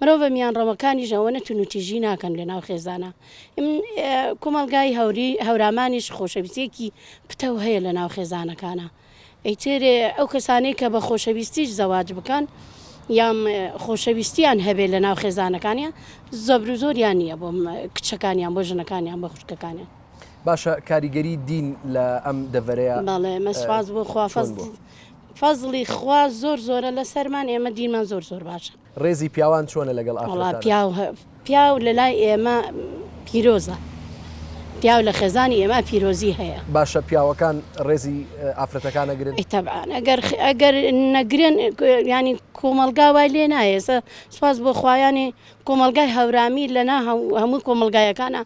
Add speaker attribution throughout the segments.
Speaker 1: مرۆڤە میانڕەوەکانیش ئەوەنە تونوتیژی ناکەن لەناو خێزانا کۆمەڵگای هەوری هەورامانیش خۆشەویستێکی پتەو هەیە لە ناو خێزانەکانە ئەیترێ ئەو کەسانەی کە بە خۆشەویستیش زەواج بکەن یام خۆشەویستیان هەبێ لە ناو خێزانەکانیان زەبر و زۆریان نییە بۆ کچەکانیان بۆ ژنەکانیان بە خوشکەکانیان باشە
Speaker 2: کاریگەری دین لە ئەم دەڤەرەیە بەڵێ مەسواز
Speaker 1: بۆ خوافەز فەزڵی خوا زۆر زۆرە لەسەرمان ئێمە دینمان زۆر زۆر باشە. ڕێزی پیاوان
Speaker 2: چۆنە لەگەڵ ئافرەتانە؟ وەڵا
Speaker 1: پیاو لەلای ئێمە پیرۆزە پیاو لە خێزانی ئێمە پیرۆزی هەیە. باشە پیاوەکان
Speaker 2: ڕێزی ئافرەتەکان ئەگرن؟ تەبعەن
Speaker 1: ئەگەر نەگرن یانی کۆمەڵگا وای لێ نایێ سوپاس بۆ خوایانی کۆمەڵگای هەورامی لەنا هەمووی کۆمەڵگایەکانە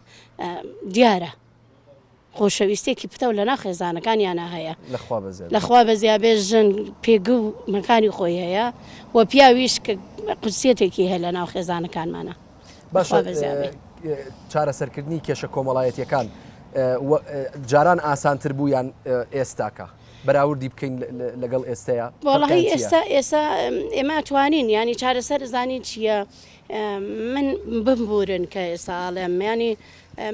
Speaker 1: دیارە. خۆشەویستیەکی پتەو لەناو خێزانەکانیانا هەیە لە خوا بەزیابێ ژن پێگە و مەکانی خۆی هەیە و پیاویش کە قورسیەتێکی هەیە لەناو خێزانەکانمانە باش
Speaker 2: چارەسەرکردنی کێشە کۆمەڵایەتیەکان جاران ئاسانتر بوو یان ئێستاکە بەراوردی بکەین لەگەڵ ئێستەیە وڵی ئێستا
Speaker 1: ئێستا ئێمە توانین ینی چارەسەر زانین چییە من بمبورن کە ئێستا ئاڵێم میانی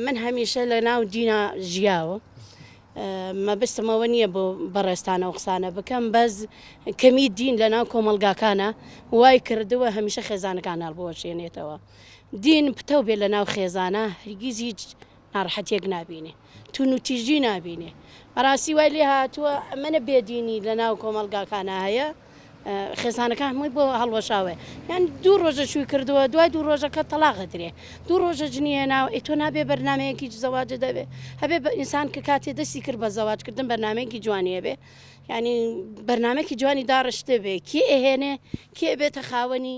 Speaker 1: من هەمیشە لە ناو دینا ژیاوە مەبستم ئەوە نییە بۆ بەڕێستانە و قسانە بکەم بەس کەمی دین لە ناو کۆمەلگاکانە وای کردووە هەمیشە خێزانەکان هەڵبوەشێنێتەوە دین پتە بێ لە ناو خێزانە هەرگیز هیچ ناڕحەتێک نبینێ تو نوتیژی نبینێ بەڕاستی وای لێ هاتووە ئەمەە بێدینی لە ناو کۆمەلگاکانە هەیە خێزانەکان هەمووی بۆ هەڵوەشاوێ یان دوو ڕۆژە شووی کردووە دوای دوو ڕۆژەکە تەلاغ درێ دوو ڕۆژە جنیە ناو ئیتۆ نابێ بەرنمەیەکی زەواجە دەبێ هەبێ بە ئینسان کە کاتێ دەستی کرد بە زەواجکردن بەرنمەیەکی جوانیە بێ ینی بەرنمەکی جوانی داڕشتێ بێ کێ ئەهێنێ کێ بێتە خاوەنی